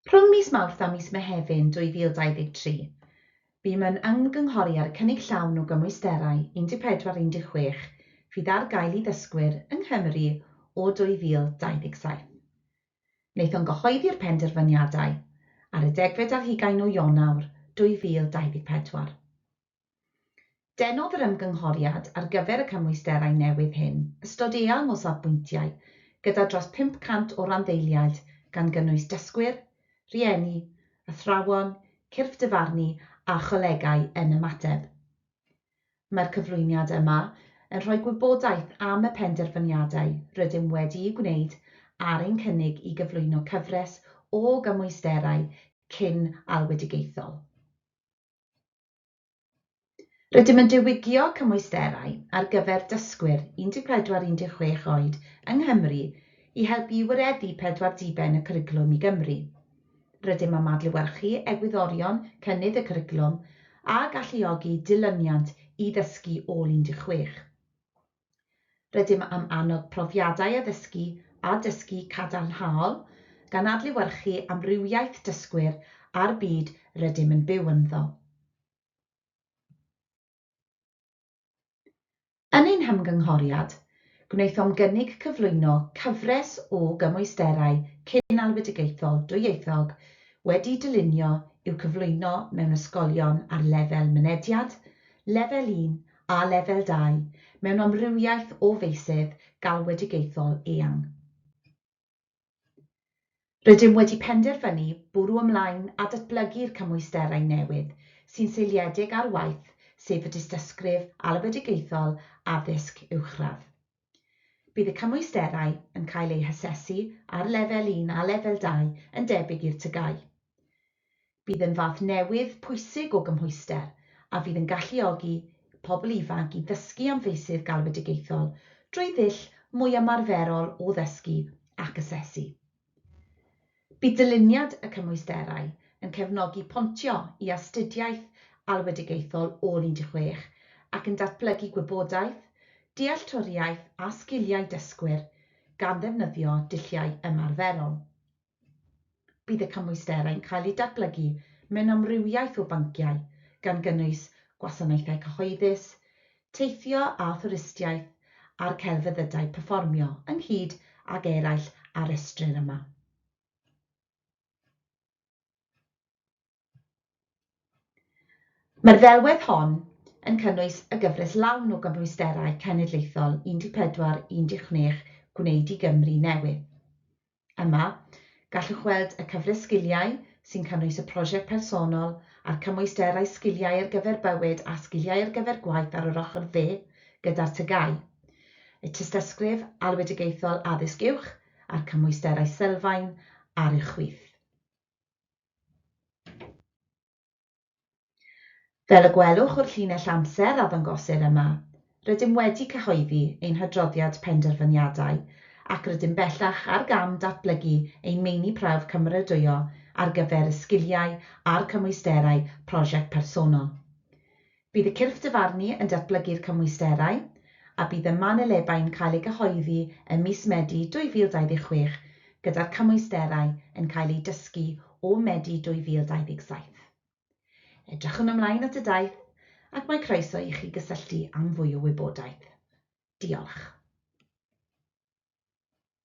Rhwng mis Mawrth a mis Mehefin 2023, bûm yn ymgynghori ar y cynnig llawn o gymwysterau 14 16 fydd ar gael i ddysgwyr yng Nghymru o 2027. Wnaethon gyhoeddi'r penderfyniadau ar y degfed ar hugain o Ionawr 2024. Denodd yr ymgynghoriad ar gyfer y cymwysterau newydd hyn ystod eang o safbwyntiau, gyda dros 500 o randdeiliaid gan gynnwys dysgwyr, rhieni, athrawon, cyrff dyfarnu a cholegau yn ymateb. Mae'r cyflwyniad yma yn rhoi gwybodaeth am y penderfyniadau rydym wedi'u gwneud ar ein cynnig i gyflwyno cyfres o gymwysterau cyn-alwedigaethol. Rydym yn diwygio cymwysterau ar gyfer dysgwyr 14-16 oed yng Nghymru i helpu i wireddu pedwar diben y cwricwlwm i Gymru. Rydym am adlewyrchu egwyddorion cynnydd y cwricwlwm a galluogi dilyniant i ddysgu ôl 16. Rydym am annog profiadau addysgu a dysgu cadarnhaol, gan adlewyrchu amrywiaeth dysgwyr a'r byd rydym yn byw ynddo. Yn ein hymgynghoriad, gwnaethom gynnig cyflwyno cyfres o gymwysterau cyn-alwedigaethol dwyieithog wedi'u dylunio i'w cyflwyno mewn ysgolion ar lefel mynediad, Lefel un a Lefel Dau mewn amrywiaeth o feysydd galwedigaethol eang. Rydym wedi penderfynu bwrw ymlaen â datblygu'r cymwysterau newydd sy'n seiliedig ar waith sef y Dystysgrif Alwedigaethol Addysg Uwchradd. Bydd y cymwysterau yn cael eu hasesu ar lefel un a lefel dau yn debyg i'r TGAU. Bydd yn fath newydd pwysig o gymhwyster a fydd yn galluogi pobl ifanc i ddysgu am feysydd galwedigaethol drwy ddull mwy ymarferol o ddysgu ac asesu. Bydd dyluniad y cymwysterau yn cefnogi pontio i astudiaeth alwedigaethol ôl 16 ac yn datblygu gwybodaeth, dealltwriaeth a sgiliau dysgwyr gan ddefnyddio dulliau ymarferol. Bydd y cymwysterau'n cael eu datblygu mewn amrywiaeth o bynciau, gan gynnwys gwasanaethau cyhoeddus, teithio a thwristiaeth a'r celfyddydau perfformio, ynghyd ag eraill a restrir yma. Mae'r ddelwedd hon yn cynnwys y gyfres lawn o gymhwysterau cenedlaethol 14, 16 Gwneud i Gymru Newydd. Yma, gallwch weld y cyfres sgiliau sy'n cynnwys y prosiect personol a'r cymwysterau Sgiliau ar gyfer Bywyd a Sgiliau ar gyfer Gwaith ar yr ochr dde gyda'r TGAU, y Tystysgrif Alwedigaethol Addysg Uwch a'r Cymwysterau Sylfaen ar y Chwith. Fel y gwelwch o'r llinell amser a ddangosir yma, rydym wedi cyhoeddi ein hadroddiad penderfyniadau ac rydym bellach ar gam datblygu ein meini prawf cymeradwyo ar gyfer y sgiliau a'r cymwysterau prosiect personol. Bydd y cyrff dyfarnu yn datblygu'r cymwysterau, a bydd y manylebau'n cael eu cyhoeddi ym mis Medi 2026, gyda'r cymwysterau yn cael eu dysgu o Medi 2027. Edrychwn ymlaen at y daith, ac mae croeso i chi gysylltu am fwy o wybodaeth. Diolch.